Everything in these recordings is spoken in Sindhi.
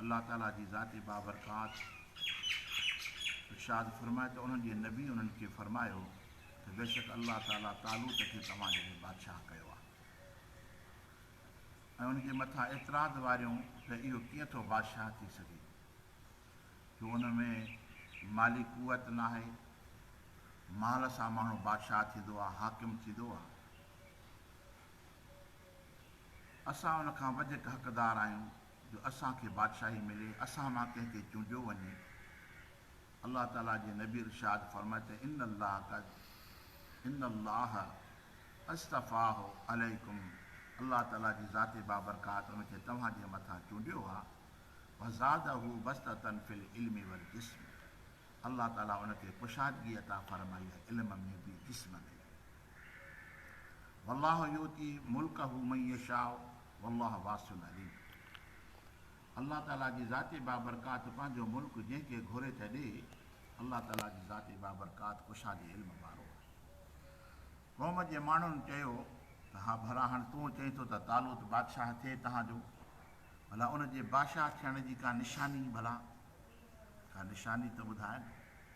الله تعاليٰ جي ذات بابرڪات ارشاد فرمائي ته انهن جي نبي انهن کي فرمايو ته بيشڪ الله تعاليٰ طالوت کي توهان جهڙي بادشاهه ڪيو آهي ۽ ان جي مٿان اعتراض واريون ته اهو ڪيئن ٿو بادشاهه ٿي سگهي جو ان ۾ مالي قوت ناهي مال سان ماڻهو بادشاهه ٿيندو آهي حاڪم ٿيندو آهي اسان ان کان وڌيڪ حقدار آهيون جو اسان کي بادشاهي ملي، اسان مان ڪنهن کي چونڊيو وڃي. الله تعاليٰ جي نبي ارشاد فرمايو ته ان الله قد ان الله اصطفٰه عليڪم الله تعاليٰ جي ذات بابرڪات ان کي توهان جي مٿان چونڊيو آهي وزاده بسطة في العلم والجسم الله تعاليٰ ان کي ڪشادگي عطا فرمائي آهي علم ۾ به جسم ۾ به. والله يؤتي ملڪه من يشاء والله واسع عليم الله تعاليٰ جي ذات بابرڪات پنهنجو ملڪ جنهن کي گهري ٿي ڏي الله تعاليٰ جي ذات بابرڪات ڪشادي علم وارو آهي قوم جي ماڻهن چيو ته ها ڀلا هاڻ تون چئين ٿو ته طالوت بادشاهه ٿئي توهان جو ڀلا ان جي بادشاهه ٿيڻ جي ڪا نشاني ڀلا ڪا نشاني ته ٻڌاء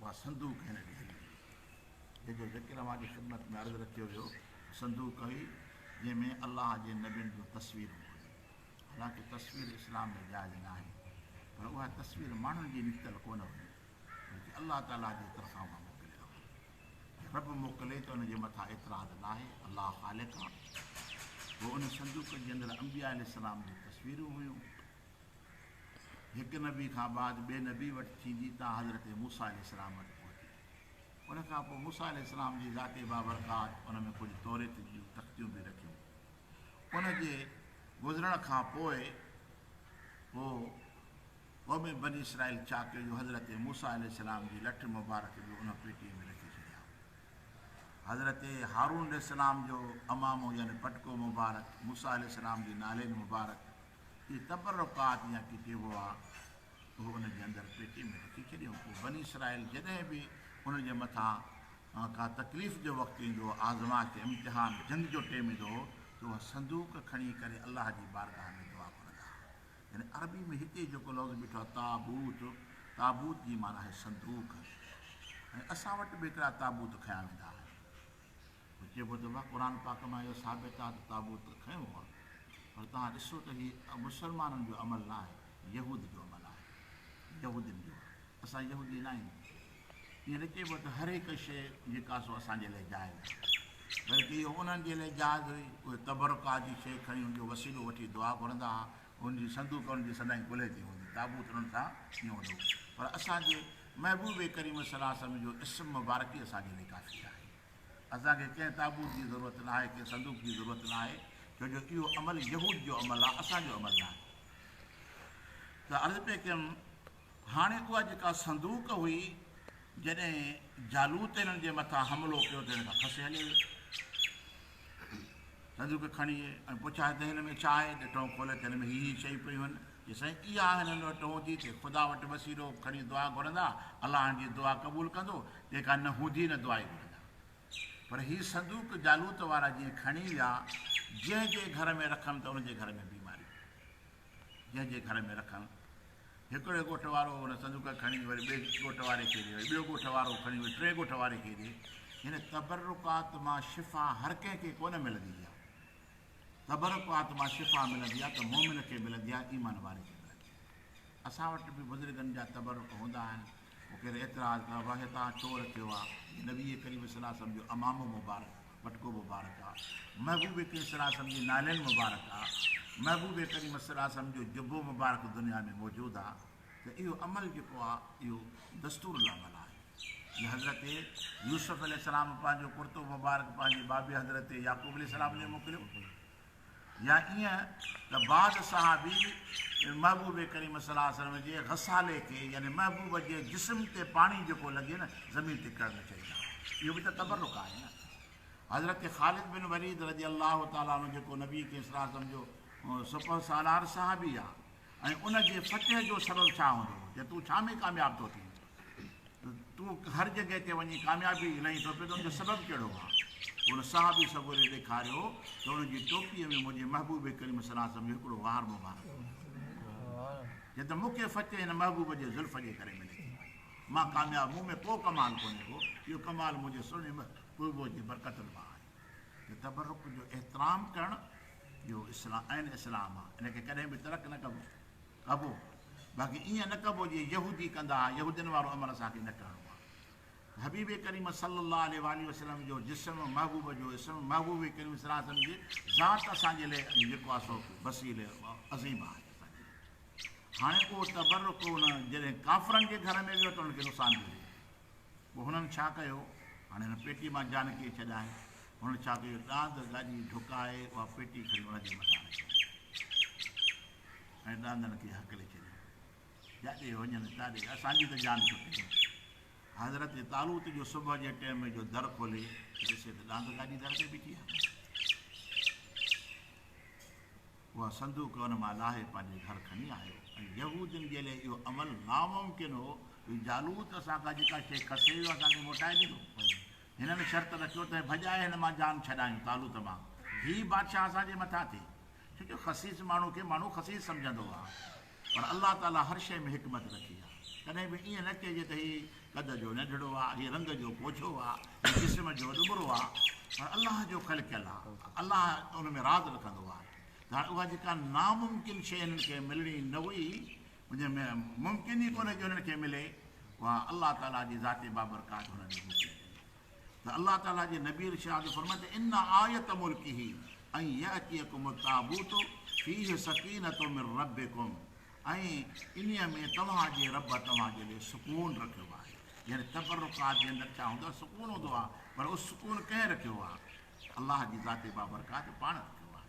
اها سنڌو ڪنهن لکي ڇڏي هئي، جنهن جو ذڪر اوهان جي خدمت ۾ عرض رکيو ويو ته سنڌو ڪوي جنهن ۾ الله جي نبين جون تصويرون ڪونهن. حالانڪه تصوير اسلام ۾ جائز ناهي، پر اها تصوير ماڻهن جي نڪتل ڪونه هئي، بلڪه الله تعاليٰ جي طرفان اها موڪليل هئي. جي رب موڪلي ته ان جي مٿان اعتراض ناهي، الله خالق آ. پوء ان سندوق جي اندر انبياء عليه السلام جون تصويرون هيون. هڪ نبي کان بعد ٻئي نبي وٽ ٿيندي تان حضرت موسيٰ عليه السلام وٽ پهتي. ان کان پوء موسيٰ عليه السلام جي ذات بابرڪات ان ۾ ڪجهه توريت جون تختيون به رکيون. ان جي گذرڻ کان پوء پوء قوم بني اسرائيل ڇا ڪيو جو حضرت موسيٰ عليه السلام جي لٺ مبارڪ به ان پيٽي ۾ رکي ڇڏيائون. حضرت هارون عليه السلام جو عمامو يعني پٽڪو مبارڪ، موسيٰ عليه السلام جي نالين مبارڪ، اهي تبرڪات يا ڪيڪي هئا، اهي ان جي اندر پيٽي ۾ رکي ڇڏيون. پوء بني اسرائيل جڏهن به انهن جي مٿان ڪا تڪليف جو وقت ايندو هو، آزمائش، امتحان، جنگ جو ٽيم ايندو هو ته اها صندوق کڻي ڪري الله جي بارگاهه ۾ دعا گهرندا هئا. يعني عربي ۾ هتي جيڪو لفظ بيٺو آهي تابوت، تابوت جي معنيٰ آهي صندوق ۽ اسان وٽ به هڪڙا تابوت کنيا ويندا آهن. پوء چئبو ته واھ قرآن پاڪ مان اهو ثابت آهي ته تابوت ته کنيو هئا پر توهان ڏسو ته هي مسلمانن جو عمل ناهي يهود جو عمل آهي يهودين جو آهي اسان يهودي ناهيون ائين نه چئبو ته هر هڪ شيء جيڪا سو اسان جي لاء جائز آهي بلڪه اهو انهن جي لاء جائز هئي اهي تبرڪات جي شيء کڻي ان جو وسيلو وٺي دعا گهرندا ها ان جي صندوق انهن جي سدائين ڪلهي تي هوندي تابوت انهن سان ڪيئن هوندو پر اسان جي محبوب ڪريم صلي الله عليه وسلم جو اسم مبارڪ ئي اسان جي لاء ڪافي آهي اسان کي ڪنهن تابوت جي ضرورت نه آهي، ڪنهن صندوق جي ضرورت نه آهي، ڇو جو اهو عمل يهود جو عمل آهي، اسان جو عمل نه آهي. ته عرض پئي ڪيم، هاڻي اها جيڪا صندوق هئي، جڏهن جالوت هنن جي مٿان حملو ڪيو ته هن کان کسي هلي ويو. صندوق کڻي ايئي ۽ پڇائي ته هن ۾ ڇا آهي؟ ته ٽهون کولي ته هن ۾ هي هي شيون پيون هن. چي سائين اها آهن هن وٽ ٽهون ٿي ٿئي خدا وٽ وسيلو کڻي دعا گهرندا الله هن جي دعا قبول ڪندو جيڪا نه هوندي نه دعا ئي گهرندا پر هي صندوق جالوت وارا جيئن کڻي ويا جنهن جي گهر ۾ رکم ته ان جي گهر ۾ بيماريون جنهن جي گهر ۾ رکن. هڪڙي ڳوٺ وارو ان صندوق کڻي وري ٻئي ڳوٺ واري کي ڏي، وري ٻيو ڳوٺ وارو کڻي وري ٽئين ڳوٺ واري کي ڏي. هن تبرڪات مان شفا هر ڪنهن کي ڪونه ملندي آهي. تبرڪات مان شفا ملندي آهي ته مؤمن کي ملندي آهي، ايمان واري کي ملندي آهي. اسان وٽ به بزرگن جا تبرڪ هوندا آهن. پوء ڪير اعتراض ڪيو آهي ته تان ڇو رکيو آهي جي نبي ڪريم صلي الله عليه وسلم جو عمامو مبارڪ، پٽڪو مبارڪ، آهي، محبوب ڪريم صلي الله عليه وسلم جي نالين مبارڪ آهي، محبوب ڪريم صلي الله عليه وسلم جو جبو مبارڪ دنيا ۾ موجود آهي ته اهو عمل جيڪو آهي اهو دستور العمل آهي جي حضرت يوسف عليه السلام پنهنجو ڪرتو مبارڪ پنهنجي بابي حضرت يعقوب عليه السلام ڏي موڪليو يا ائين ته بعد صحابي محبوب ڪريم صلي الله عليه وسلم جي غسالي کي يعني محبوب جي جسم تي پاڻي جيڪو لڳي نه زمين تي ڪرڻ نه چاهيندا هئا اهو به ته تبرڪ آهي نه حضرت خالد بن وليد رضي الله تعالٰي عنه جيڪو نبي ڪريم صلي الله عليه وسلم جو سپه سالار صحابي آهي ۽ ان جي فتح جو سبب ڇا هوندو هو ته تون ڇا ۾ ڪامياب ٿو ٿين تون هر جڳهه تي وڃي ڪاميابي الائين ٿو پئين ته ان جو سبب ڪهڙو آهي؟ هن صحابي سڳوري ڏيکاريو ته ان جي ٽوپيء ۾ منهنجي محبوب ڪريم صلي الله عليه وسلم جو هڪڙو وار مبارڪ هو. چيائين ته مون کي فتح هن محبوب جي زلف جي ڪري ملي ٿي. مان ڪامياب، مون ۾ ڪو ڪمال ڪونهي ڪو، اهو ڪمال منهنجي سهڻي محبوب جي برڪتن مان آهي. ته تبرڪ جو احترام ڪرڻ اهو اسلام عين اسلام آهي، ان کي ڪڏهن به ترڪ نه ڪبو. ڪبو، باقي ائين نه ڪبو جيئن يهودي ڪندا ها، يهودين وارو امر اسان کي نه ڪرڻو آهي. حبيب ڪريم صلّي الله عليه واٰله وسلّم جو جسم، محبوب جو اسم، محبوب ڪريم صلّي الله عليه وسلّم جي ذات اسان جي لئه علي جيڪو آهي سو وسيلي عظيم آهي اسان جي لئه. هاڻي اهو تبرّڪ ان جڏهن ڪافرن جي گهر ۾ ويو ته انهن کي نقصان ٿيو ڏئي. پوء هنن ڇا ڪيو؟ هاڻي هن پيٽي مان جان ڪيئي ڇڏائين؟ هنن ڇا ڪيو؟ ڏاند ڳاڄي ڍڪائي اها پيٽي کڻي ان جي مٿان رکيائين. ۽ ڏاندڻ کي هڪلي ڇڏيو، جاڏي وڃن تاڏي اسان جي ته جان ڇٽي وڃي. حضرت طالوت جو صبح جي ٽيم جو در کولي ڏسي ته ڏاند گاڏي در تي بيٺي آهي. اها صندوق ان مان لاهي پنهنجي گهر کڻي آيو ۽ يهودين جي لئي اهو عمل ناممڪن هو جو جالوت اسان کان جيڪا شيء کسي ويو اسان کي موٽائي ڏيندو. هنن شرط رکيو ته ڀڄائي هن مان جان ڇڏايون، طالوت مان، ڌيء بادشاهه اسان جي مٿان ٿئي. ڇو جو خسيس ماڻهو کي ماڻهو خسيس سمجهندو هئا. پر الله تعاليٰ هر شيء ۾ حڪمت رکي آهي. ڪڏهن به ائين نه چئجي ته هي قد جو ننڍڙو آهي، هي رنگ جو پوڇو آهي، هي جسم جو ڏٻرو آهي. پر الله جو خلقيل آهي. الله ان ۾ راز رکندو آهي. ته هاڻي اها جيڪا ناممڪن شيء هنن کي ملڻي نه هئي، جنهن ۾ ممڪن ئي ڪونهي جو انهن کي ملي، اها الله تعاليٰ جي ذات بابرڪات انهن ڏي موڪلي وئي ته الله تعاليٰ جي نبي ارشاد جو فرمائي ته ان آيت ملڪه ان يأتيڪم التابوت فيه سڪينة من ربڪم ۽ انهيء ۾ توهان جي رب توهان جي لئي سڪون رکيو آهي يعني تبرڪات جي اندر ڇا هوندو آهي سڪون هوندو آهي پر اهو سڪون ڪنهن رکيو آهي الله جي ذات بابرڪات پاڻ رکيو آهي.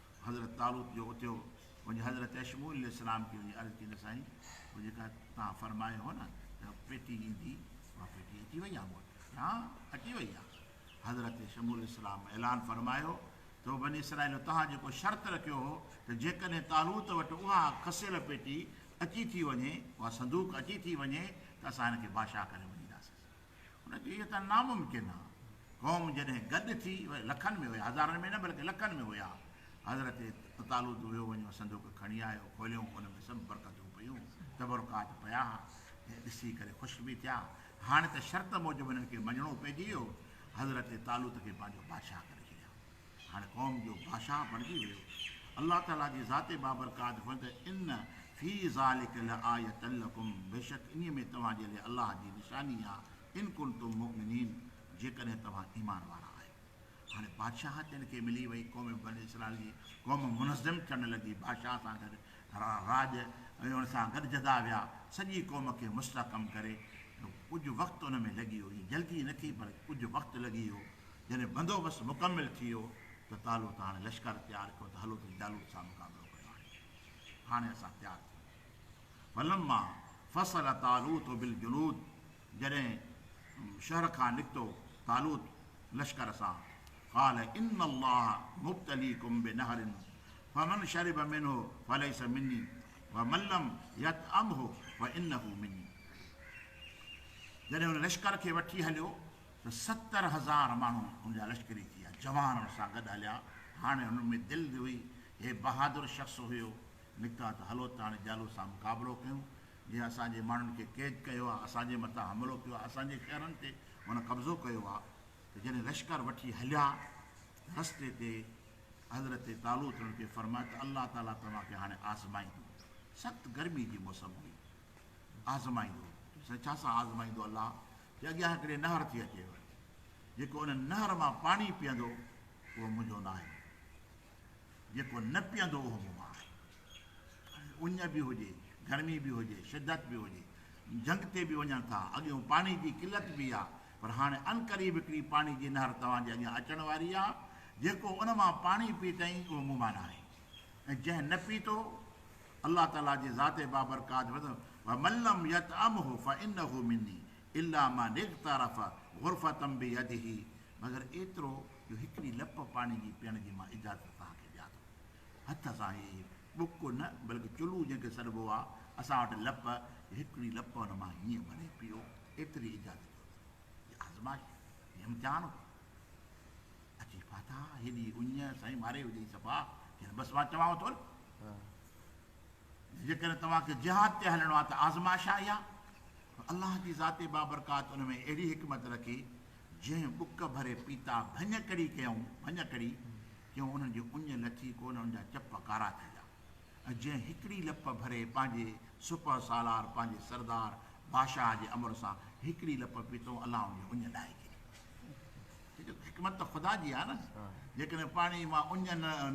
حضرت طالوت جو اتيو وڃي حضرت اشمعيل عليه السلام کي وڃي عرض ڪئي ته سائين اهو جيڪا توهان فرمايو هو نه ته پيٽي ايندي اها پيٽي اچي وئي آهي مون وٽ چيائين ها اچي وئي آهي حضرت شمعيل عليه السلام اعلان فرمايو ته بني اسرائيلو توهان جيڪو شرط رکيو هو ته جيڪڏهن طالوت وٽ اها کسيل پيٽي اچي ٿي وڃي اها صندوق اچي ٿي وڃي ته اسان هن کي بادشاهه ڪري مڃينداسين ان کي اهو ته ناممڪن آ. قوم جڏهن گڏ ٿي وئي، لکن ۾ هيا، هزارن ۾ نه بلڪه لکن ۾ هيا، حضرت طالوت ويو وڃيو صندوق کڻي آيو، کوليئون، ان ۾ سڀ برڪتون پيون، تبرڪات پيا، ۽ ڏسي ڪري خوش به ٿيا، هاڻي ته شرط موجب هنن کي مڃڻو پئجي ويو، حضرت طالوت کي پنهنجو بادشاهه ڪري ڇڏيائون. هر قوم جو بادشاهه بڻجي ويو. الله تعاليٰ جي ذات بابرڪات فرمائي ٿو ته، ان في ذلک لآية لڪم بيشڪ انهيء ۾ توهان جي لاء الله جي نشاني آهي ان ڪنتم مؤمنين جيڪڏهن توهان ايمان وارا آهيو. هاڻي بادشاهت تن کي ملي وئي قوم بني اسرائيل جي قوم منظم ٿيڻ لڳي بادشاهه سان گڏ راڄ ۽ ان سان گڏ جدا ويا سڄي قوم کي مستحڪم ڪري ڪجهه وقت ان ۾ لڳي ويو جلدي نه ٿي پر ڪجهه وقت لڳي ويو جڏهن بندوبست مڪمل ٿي ويو ته طالوت هاڻي لشڪر تيار ڪيو ته هلو ته جالوت سان مقابلو ڪيون هاڻي هاڻي اسان تيار ٿي ويا آهيون فلما فصل طالوت بالجنود جڏهن شهر کان نڪتو طالوت لشڪر سان قال ان الله مبتليڪم بنهر فمن شرب منه فليس مني ومن لم يطعمه فانه مني جڏهن ان لشڪر کي وٺي هليو ته ستر هزار ماڻهو ان جا لشڪري ٿيا، جوان ان سان گڏ هليا، هاڻي هنن ۾ دل به هئي، هي بهادر شخص هيو، نڪتا ته هلو ته هاڻي جالوت سان مقابلو ڪيون، جنهن اسان جي ماڻهن کي قيد ڪيو آهي، اسان جي مٿان حملو ڪيو آهي، اسان جي شهرن تي هن قبضو ڪيو آهي، ته جڏهن لشڪر وٺي هليا ته رستي تي حضرت طالوت انهن کي فرمايو ته الله تعاليٰ توهان کي هاڻي آزمائيندو، سخت گرمي جي موسم هئي، آزمائيندو، چيائين ڇا سان آزمائيندو الله، ڪي اڳيان هڪڙي نهر ٿي اچيو آهي، جيڪو ان نهر مان پاڻي پيئندو، اهو منهنجو ناهي، جيڪو نه پيئندو، اهو مون مان آهي. هاڻي اڃ به هجي، گرمي به هجي، شدت به هجي، جهنگ تي به وڃن ٿا، اڳيون پاڻي جي قلت به آ، پر هاڻي عنقريب هڪڙي پاڻي جي نهر توهان جي اڳيان اچڻ واري آ، جيڪو ان مان پاڻي پيتئين، اهو مون مان ناهي، ۽ جنهن نه پيتو، الله تعالي جي ذات بابرڪات فرمائي ٿو، ومن لم يطعمه فانه مني الا من اغترف غرفة بيده مگر ايترو جو هڪڙي لپ پاڻي جي پيئڻ جي مان اجازت توهان کي ڏيان ٿو. هٿ سان هي ٻڪ نه بلڪ چلو جنهن کي سڏبو آهي اسان وٽ لپ جو هڪڙي لپ ان مان هيئن ڀري پيئو ايتري اجازت ڏيو ٿو. هي آزمائش هي امتحان هو. اچي پاتا هيڏي اڃ سائين ماري وجهي صفا جن بس مان چوان ٿو نه جيڪڏهن توهان کي جهاد تي هلڻو آهي ته آزمائش آهي يا الله جي ذات بابرڪات ان ۾ اهڙي حڪمت رکي جنهن بک ڀري پيتا ڀڃ ڪڙي ڪيائون ڀڃ ڪڙي ڪيون انهن جي اڃ لٿي ڪو نه ان جا چپ ڪارا ٿي ويا ۽ جنهن هڪڙي لپ ڀري پنهنجي سپه سالار پنهنجي سردار بادشاهه جي امر سان هڪڙي لپ پيتو الله ان جي اڃ لاهي ڇڏي حڪمت ته خدا جي آهي نه، جيڪڏهن پاڻي مان اڃ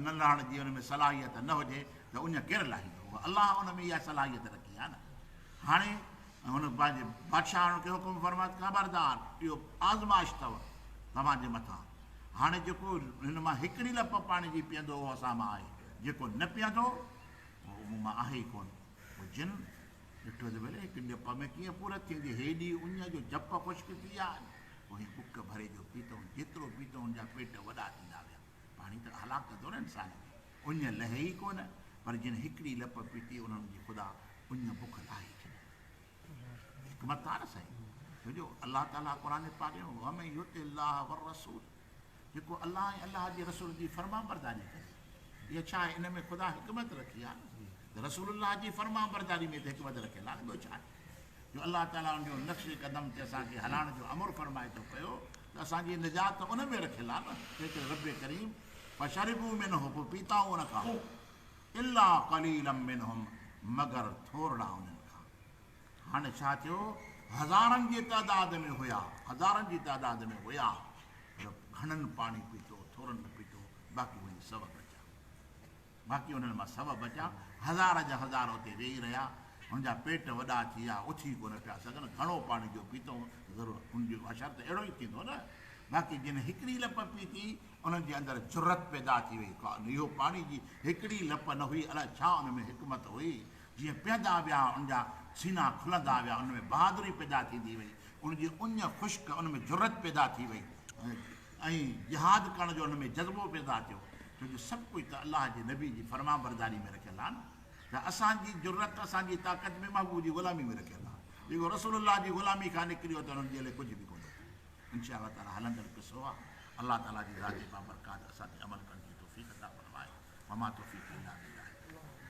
نه لهڻ جي ان ۾ صلاحيت نه هجي ته اڃ ڪير لاهيندو؟ هو الله ان ۾ اها صلاحيت رکي آهي نه. هاڻي هن پنهنجي بادشاهڻ کي حڪم فرمايو ته خبردار اهو آزمائش اٿو توهان جي مٿان، هاڻي جيڪو هن مان هڪڙي لپ پاڻي جي پيئندو اهو اسان مان آهي، جيڪو نه پيئندو اهو مون مان آهي ئي ڪونه. پوء جن ڏٺو ته ڀلي هڪ ڄپ ۾ ڪيئن پورت ٿئي ٿي. هيڏي اڃ جو ڄپ خشڪ ٿي ويا آهن. اوهين ٻڪ ڀري جو پيتئون، جيترو پيتئون ان جا پيٽ وڏا ٿيندا ويا. پاڻي ته هلاڪ ڪندو نه انسان کي. اڃ لهي ئي ڪونه، پر جن هڪڙي لپ پيتي انهن جي خدا اڃ بک لاهي ڇڏي. حڪمت آهي نه سائين. ڇو جو الله تعاليٰ قرآن پاڪ ۾، ومن يطع الله والرسول جيڪو الله ۽ الله جي رسول جي فرمانبرداري ڪري. اهو ڇا آهي؟ ان ۾ خدا حڪمت رکي آهي ته رسول الله جي فرمانبرداري ۾ ته حڪمت رکيل آهي، ٻيو ڇا آهي؟ جو الله تعاليٰ ان جو نقش قدم تي اسان کي هلائڻ جو امر فرمائي ٿو پيو ته اسان جي نجات ته ان ۾ رکيل آهي نه، تنهنڪري ربّ ڪريم فشربوا منه پوء پيتائون ان کان الا قليلا منهم مگر ٿورڙا انهن کان هاڻي ڇا ٿيو؟ هزارن جي تعداد ۾ هيا، هزارن جي تعداد ۾ هيا، پر گهڻن پاڻي پيتو، ٿورن نه پيتو، باقي وڃي سو بچيا. باقي انهن مان سو بچيا، هزار جا هزار اتي ويهي رهيا، هن جا پيٽ وڏا ٿي ويا، اٿي ڪونه پيا سگهن، گهڻو پاڻي جو پيتئون ته ضرور ان جو حشر ته اهڙو ئي ٿيندو نه، باقي جن هڪڙي لپ پيتي، انهن جي اندر جرئت پيدا ٿي وئي، اهو پاڻي جي هڪڙي لپ نه هئي، الاء ڇا ان ۾ حڪمت هئي، جيئن پيئندا ويا، ان جا سينا کلندا ويا، ان ۾ بهادري پيدا ٿيندي وئي، ان جي اڃ خشڪ، ان ۾ جرئت پيدا ٿي وئي ۽ جهاد ڪرڻ جو ان ۾ جذبو پيدا ٿيو، ڇو جو سڀ ڪجهه ته الله جي نبي جي فرمانبرداري ۾ رکيل آهي نه ته اسان جي جرئت، اسان جي طاقت به محبوب جي غلامي ۾ رکيل آهي، جيڪو رسول الله جي غلامي کان نڪريو ته ان جي لئه ڪجهه به ڪونه ٿيو، ان شاء الله تعاليٰ هلندڙ قصو آهي، الله تعاليٰ جي ذات بابرڪات اسان تي عمل ڪرڻ جي توفيق عطا فرمائي، وما توفيقي الا بالله.